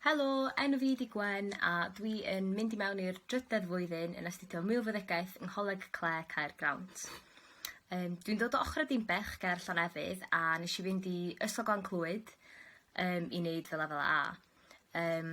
Helo, enw fi ydi Gwen a dwi yn mynd i mewn i'r drydedd flwyddyn yn astudio milfeddygaeth yng Ngholeg Clare Caergrawnt. Um, dwi'n dod o ochr y Dimbech ger Llanefydd a nes i fynd i Ysgol Glan Clwyd um, i wneud fy lefel A. Um,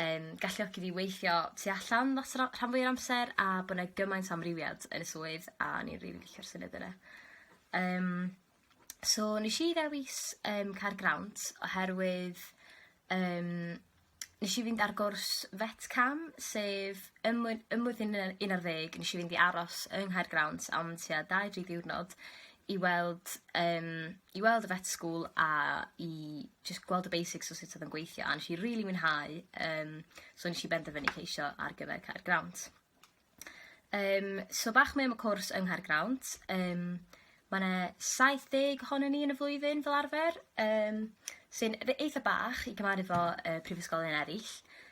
yn galluogi fi weithio tu allan lot o ra- rhan fwya amser a bo' 'na gymaint o amrywiad yn y swydd a o'n i'n rili licio'r syniad yna. Yym so nesh i ddewis yym Caergrawnt oherwydd yym nesh i fynd ar gwrs vet cam sef ym mlwy- ym mlwyddyn yy un ar ddeg nesh i fynd i aros yng Nghaergrawnt am tua dau dri diwrnod i weld yym i weld y vet school a i jyst gweld y basics o sut odd o'n gweithio a nesh i rili mwynhau yym so nesh i benderfynu ceisio ar gyfer Caergrawnt. Yym so bach mwy am y cwrs yng Nghaergrawnt yym ma' 'na saith deg ohonon ni yn y flwyddyn fel arfer yym sy'n r- eitha bach i gymharu 'fo yy prifysgolion eryll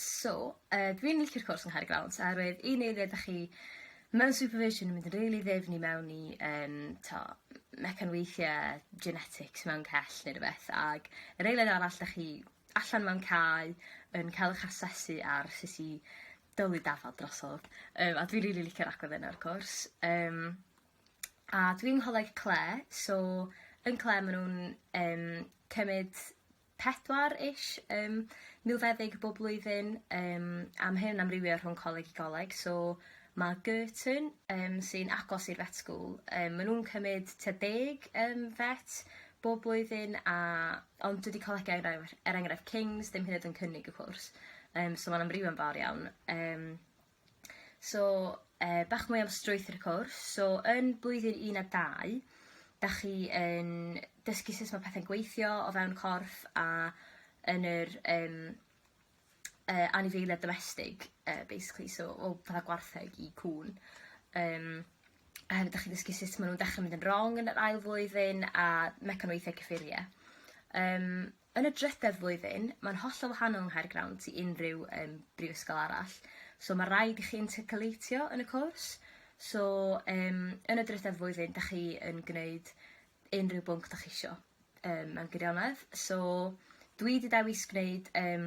So yy dwi'n licio'r cwrs yng Ngharreg Dawns oherwydd un eiliad dach chi mewn supervision yn mynd yn rili ddifn i mewn i yym t'o' m- mecanweithie genetics mewn cell ne' rwbeth ag yr eiliad arall dach chi allan mewn cae yn ca'l 'ych asesu ar sut i dylu dafad drosodd yym a dwi rili licio'r agwedd yna o'r cwrs yym a dwi'n ngholeg Clare so yn Clare ma' nw'n yym cymyd pedwar ish yym milfeddyg bob blwyddyn yym am hyn amrywio rhwng coleg i goleg so ma' Girton yym sy'n agos i'r vet school yym ma' nhw'n cymyd tua deg yym vet bob blwyddyn a ond dydi colegau enghraifft er enghraifft Kings ddim hyd yn oed yn cynnig y cwrs yym so ma'n amrywio'n fawr iawn yym. So, uh, bach mwy am strwythyr y cwrs. So, yn blwyddyn 1 a 2, da chi yn dysgu sut mae pethau'n gweithio o fewn corff a yn yr um, uh, anifeiliad domestig, uh, basically, so o fatha gwartheg i cwn. Um, a hefyd da chi'n dysgu sut maen nhw'n dechrau mynd yn wrong yn yr ail flwyddyn a mecanweithiau cyffuriau. Um, Yn y drydedd flwyddyn, mae'n hollol wahanol yng Nghaergrawnt i unrhyw um, brifysgol arall. So mae rhaid i chi intercalateio yn y cwrs. So um, yn y drydedd flwyddyn, da chi yn gwneud unrhyw bwnc da chi isio um, mewn gwirionedd. So dwi wedi dewis gwneud um,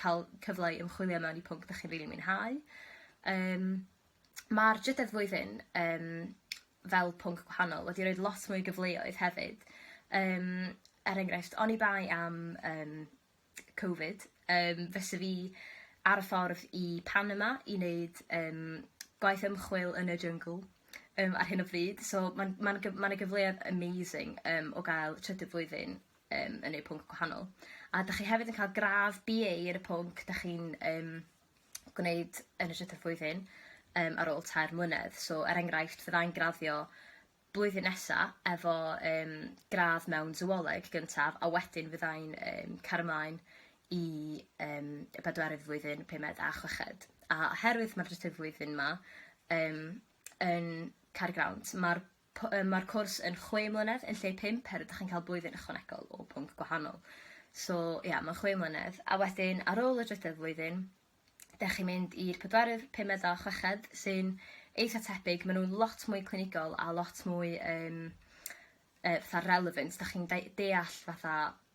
ca'l cyfle i ymchwilio mewn i pwnc 'dach chi'n rili mwynhau. Yym ma'r drydedd flwyddyn yym fel pwnc gwahanol wedi roid lot mwy o gyfleoedd hefyd yym er enghraifft oni bai am yym Covid yym fysa fi ar y ffordd i Panama i neud yym gwaith ymchwil yn y jyngl yym ar hyn o bryd so ma'n ma'n gy- ma' 'na gyfleodd amazing yym o gael trydydd flwyddyn yym yn eu pwnc gwahanol. A 'dach chi hefyd yn ca'l gradd Bee Ay ar y pwnc 'dach chi'n yym gwneud yn y trydydd flwyddyn yym ar ôl tair mlynedd. So er enghraifft fyddai'n graddio blwyddyn nesa efo yym gradd mewn Sywoloeg gyntaf a wedyn fyddai'n yym cario mlaen i yym y bedwerydd flwyddyn, pumed a chweched. A oherwydd ma'r trydydd flwyddyn 'ma yym yn cau'r grant ma'r P, Yym ma'r cwrs yn chwe mlynedd yn lle pump her ydach chi'n ca'l blwyddyn ychwanegol o pwnc gwahanol. So ia ma'n chwe mlynedd a wedyn ar ôl y drydedd flwyddyn 'dach chi'n mynd i'r pedwerydd, pumed a chweched sy'n eitha tebyg ma' nw'n lot mwy clinigol a lot mwy yym yy fatha relevant 'dach chi'n deu- deall fatha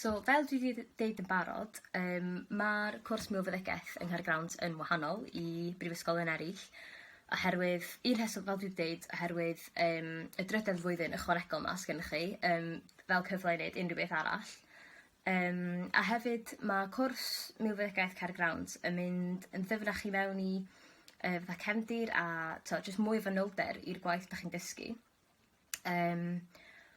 So fel dwi 'di dd- deud yn barod yym ma'r cwrs milfeddygaeth yng Nghaergrawnt yn wahanol i brifysgolion eryll oherwydd un rheswm fel dwi 'di deud oherwydd yym y drydedd flwyddyn ychwanegol 'ma sgennych chi yym fel cyfle i neud unryw beth arall yym a hefyd ma' cwrs milfeddygaeth Caergrawnt yn mynd yn ddyfnach i mewn i yy fatha cefndir a t'o' jyst mwy o fanylder i'r gwaith 'dach chi'n dysgu. Yym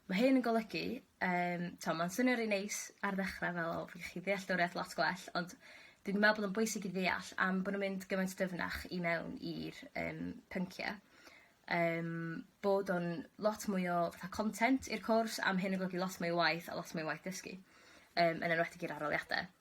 ma' hyn yn golygu yym t'o' ma'n swnio rei neis ar ddechra fel o fi gallu deall deoriad lot gwell ond dwi'n me'wl bod o'n bwysig i ddeall am bo' nw'n mynd gymaint dyfnach i mewn i'r yym pyncie yym bod o'n lot mwy o fatha content i'r cwrs a ma' hyn yn golygu lot mwy o waith a lot mwy o waith dysgu yym yn enwedig i'r aroliade.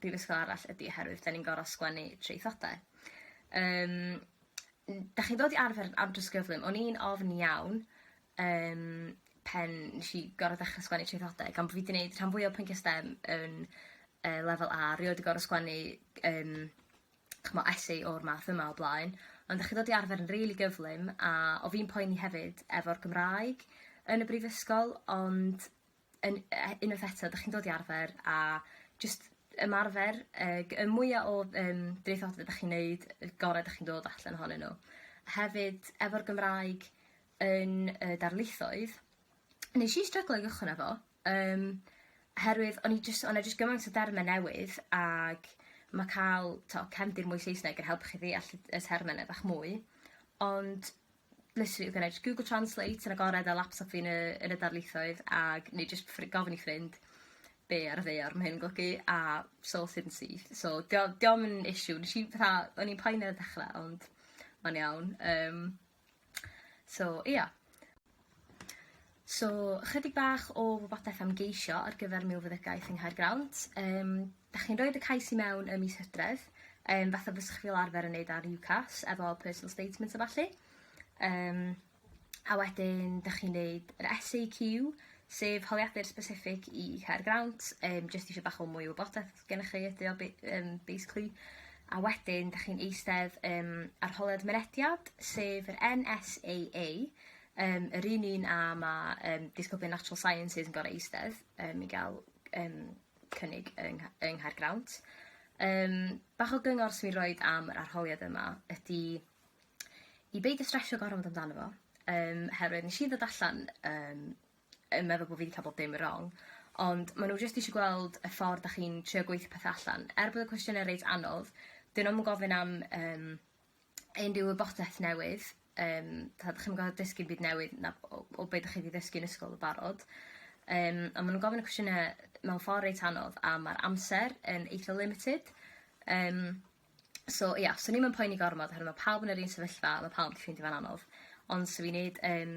brifysgol arall ydi oherwydd 'dan ni'n gor'o' sgwennu traethodau. Yym n- 'dach chi'n dod i arfer yn andros o gyflym. O'n i'n ofn iawn yym pan nesh i gor'o' dechre sgwennu traethodau gan bo' fi 'di neud rhan fwya o pwyntie stem yn yy lefel A rioed 'di gor'o' sgwennu yym ch'mo' essay o'r math yma o blaen ond 'dach chi ddod i arfer yn rili gyflym a o' fi'n poeni hefyd efo'r Gymraeg yn y brifysgol ond yn yy unwaith eto 'dach chi'n dod i arfer a jyst ymarfer yy g- y mwya o yym traethodl 'dach chi'n neud y gore 'dach chi'n dod allan ohonyn n'w. Hefyd efo'r Gymraeg yn y darlithoedd nesh i stryglo i gychwyn efo yym oherwydd o'n i jyst o' 'na jyst gymaint o derme newydd ag ma' ca'l t'o' cefndir mwy Saesneg yn helpu chi ddeall y y terme 'na bach mwy ond literally you can edge Google translate yn agored ar laptop fi yn y yn y darlithoedd ag neu jyst ffri- gofyn i ffrind be' ar y ddaear ma' hyn yn golygu a sorted yn syth. So 'di o 'di o'm yn issue nesh i fatha o'n i'n poeni ar y dechre ond ma'n iawn yym so ia. So ychydig bach o wybodaeth am geisio ar gyfer milfeddygaeth yng Nghaergrawnt yym Dach chi'n roid y cais i mewn ym mis Hydref, um, fatha fysych fel arfer yn neud ar UCAS, efo personal statements a falle. Um, a wedyn, dych chi'n neud yr SAQ, sef holiadur specific i cair grant, um, jyst eisiau bach o mwy o wybodaeth gennych chi ydy o, um, basically. A wedyn, dych chi'n eistedd um, ar holiad mynediad, sef yr NSAA, um, yr un un a mae um, disgyblion Natural Sciences yn gorau eistedd um, i gael um, cynnig yng Ngha- yng Nghaergrawnt. Yym bach o gyngor swn i roid am yr arholiad yma ydi i beidio stresio gormod amdano fo yym oherwydd nesh i ddod allan yym yn meddwl bo' fi 'di ca'l bob dim rong ond ma' nw jyst isio gweld y ffordd 'dach chi'n trio gweitho pethe allan. Er bod y cwestiyne reit anodd 'dyn nw'm yn gofyn am yym unrhyw wybodaeth newydd yym t'od chi'm yn gor'o' dysgu 'im byd newydd na o o be' 'dach chi 'di ddysgu yn ysgol yn barod yym a ma' nw'n gofyn y cwestiyne mewn ffor reit anodd a ma'r amser yn eitha limited yym so ia swn i'm yn poeni gormod oherwydd ma' pawb yn yr un sefyllfa ma' pawb 'di ffeindio fe'n anodd ond 'swn i'n neud yym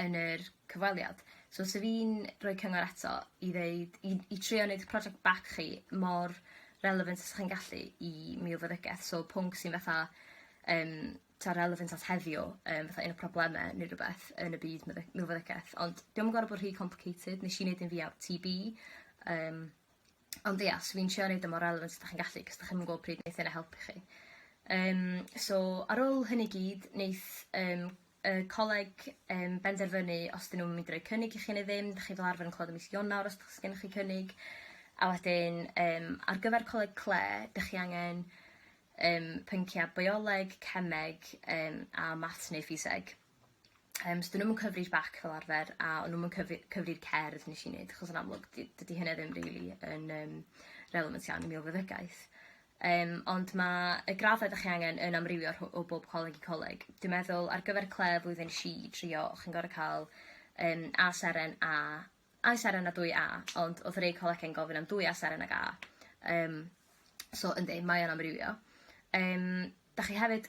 yn yr cyfweliad. So sa fi'n rhoi cyngor eto i ddeud i i trio neud project back chi mor relevant os 'ych chi'n gallu i milfyddygeth so pwnc sy'n fatha yym t'o' relevant at heddiw yym fatha un o probleme ne' rwbeth yn y byd meddyg- milfyddygeth ond 'di o'm yn gor'o' bo' rhy complicated nesh i neud un fi ar Tee Bee yym ond ia swn i'n trio neud o mor relevant a 'dach chi'n gallu 'c'os 'dach chi'm yn gw'o' pryd neith hynna helpu chi. Yym so ar ôl hynny gyd neith yym y coleg yn benderfynu os 'dyn nhw'n mynd i roi cynnig i chi neu ddim, 'dach chi fel arfer yn clywed yn mis Ionawr os o's gennych chi cynnig a wedyn yym ar gyfer coleg cle 'dych chi angen yym pyncia' bioleg, cemeg yym a maths neu ffiseg yym so 'dyn nhw'm yn cyfri'r bac fel arfer a o'n nw'm yn cyfu- cyfri'r cerdd nes i neud achos yn amlwg 'di dydi hynna ddim rili yn yym relevant iawn i milfeddygaeth. Yym ond ma' y graddau 'dach chi angen yn amrywio rhw- o bob coleg i coleg. Dwi meddwl ar gyfer Clare flwyddyn tri i drio chi'n gor'o' ca'l yym A seren A A i seren a dwy A ond odd rei colege'n gofyn am dwy A seren ag A. Yym so yndi mae o'n amrywio. Yym 'dach chi hefyd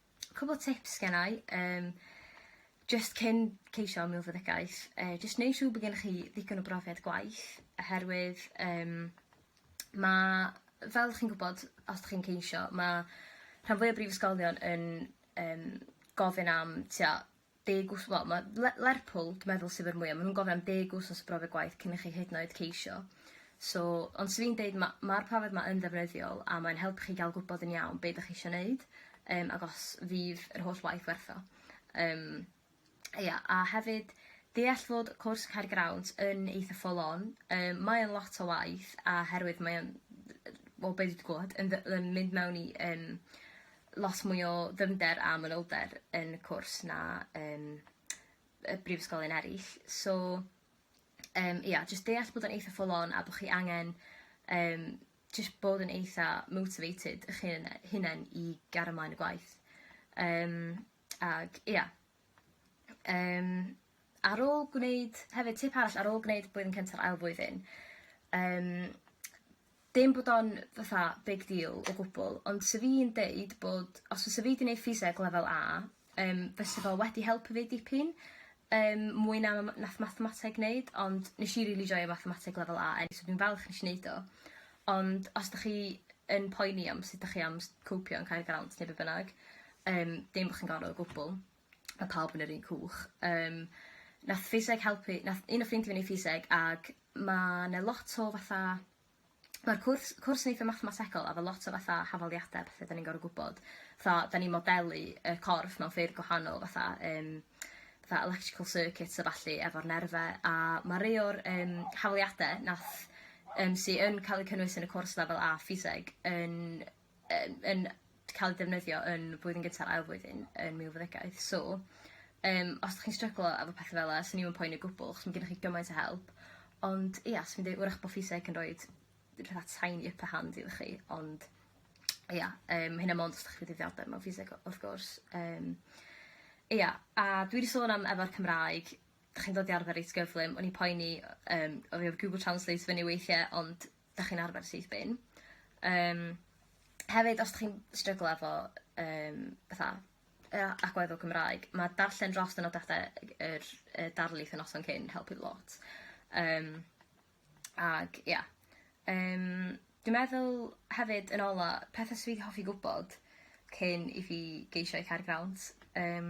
Cwpwl o tips gennai yym jyst cyn ceisio milfeddygaeth yy jyst neu' siŵr bo' gennych chi ddigon o brofiad gwaith oherwydd yym ma' fel chi'n gwbod os 'dych chi'n ceisio ma' rhan fwya brifysgolion yn yym gofyn am t'o' deg wth- wel ma' Le- Lerpwl dwi meddwl sydd a'r mwya ma' nw'n gofyn am deg wthnos o brofiad gwaith cyn i chi hyd yn oed ceisio. So ond swn i'n deud ma' ma'r profiad 'ma yn ddefnyddiol a mae'n helpu chi ga'l gwbod yn iawn be' 'dach chi isio neud yym ag os fydd yr holl waith werth o. Yym ia a hefyd deall fod cwrs Cerrig Yr Awnt yn eitha full on yym mae o'n lot o waith a herwydd mae o'n yy wel be' dwi 'di glwad yn fy- yn mynd mewn i yym lot mwy o ddyfnder a manylder yn y cwrs na yn y brifysgolion eryll so yym ia jyst deall bod o'n eitha full on a bo' chi angen yym jyst bod yn eitha motivated 'ych hun- hunen i gario mlaen y gwaith yym ag ia. Yym ar ôl gwneud... Hefyd tip arall ar ôl gwneud blwyddyn cynta a'r ail flwyddyn yym dim bod o'n fatha big deal o gwbwl ond sa fi'n deud bod os fysa fi 'di neud ffiseg lefel A yym fysa fo wedi helpu fi dipyn yym mwy na ma- nath mathemateg neud ond nesh i rili joio mathemateg lefel A so dwi'n falch nesh i neud o. Ond os 'dach chi yn poeni am sut 'dach chi am s- copio'n Caergrawnt ne' be' bynnag Yym dim bo' chi'n gorod o gwbwl. Ma' pawb yn yr un cwch. Yym nath ffiseg helpu nath un o ffrindie fi neud ffiseg ag ma' 'na lot o fatha ma'r cwrs cwrs yn eitha mathemategol a ma' lot o fatha hafaliade a pethe 'dan ni'n gorod gwbod. Fatha 'dan ni'n modelu y corff mewn ffyrdd gwahanol fatha yym fatha electrical circuits a ballu efo'r nerfe a ma' rei o'r yym hawliade nath yym sy yn ca'l 'u cynnwys yn y cwrs lefel A ffiseg yn yn yn ca'l 'u defnyddio yn flwyddyn gynta ail flwyddyn yn milfeddygaeth so yym os 'dych chi'n stryglo efo petha fel 'a swn i'm yn poeni o gwbwl 'chos ma' gennych chi gymaint o help ond ia swn i'n deu' 'w'rach bo' ffiseg yn roid fatha tiny upper hand iddo chi ond ia yym ma' hynna mond os 'dach chi 'di ddiddordeb mewn ffiseg w- wrth gwrs yym ia a dwi 'di sôn am efo'r Cymraeg 'dych chi'n dod i arfer reit gyflym o'n i'n poeni yy yym o fi efo Google Translate fyny weithie ond 'dach chi'n arfer syth bin. Yym hefyd os 'dych chi'n stryglo efo yym fatha yy a- agwedd o Gymraeg ma' darllen dros y nodiade ag yr yy darlith y noson cyn helpu lot. Yym ag ia. Yym dwi meddwl hefyd yn ola pethe swydd hoffi gwbod cyn i fi geisio i cau'r grant yym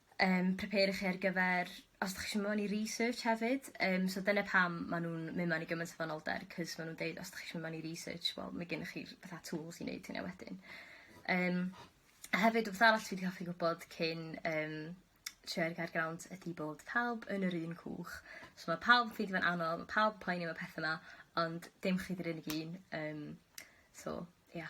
Yym prepare chi ar gyfer os 'dach chi isio mewn i research hefyd yym so dyna pam ma' nw'n myn' mewn i gymaint o fanylder 'c'os ma' nw'n deud os 'dach chi isio myn' mewn i research wel ma' gennych chi'r fatha tools i neud hynna wedyn. Yym a hefyd wbeth arall dwi 'di hoffi gwbod cyn yym trio ar gair grawnt ydi bod pawb yn yr un cwch so ma' pawb yn ffeindio fe'n anodd ma' pawb yn poeni am y petha 'ma ond dim chi 'di'r unig un yym so ia.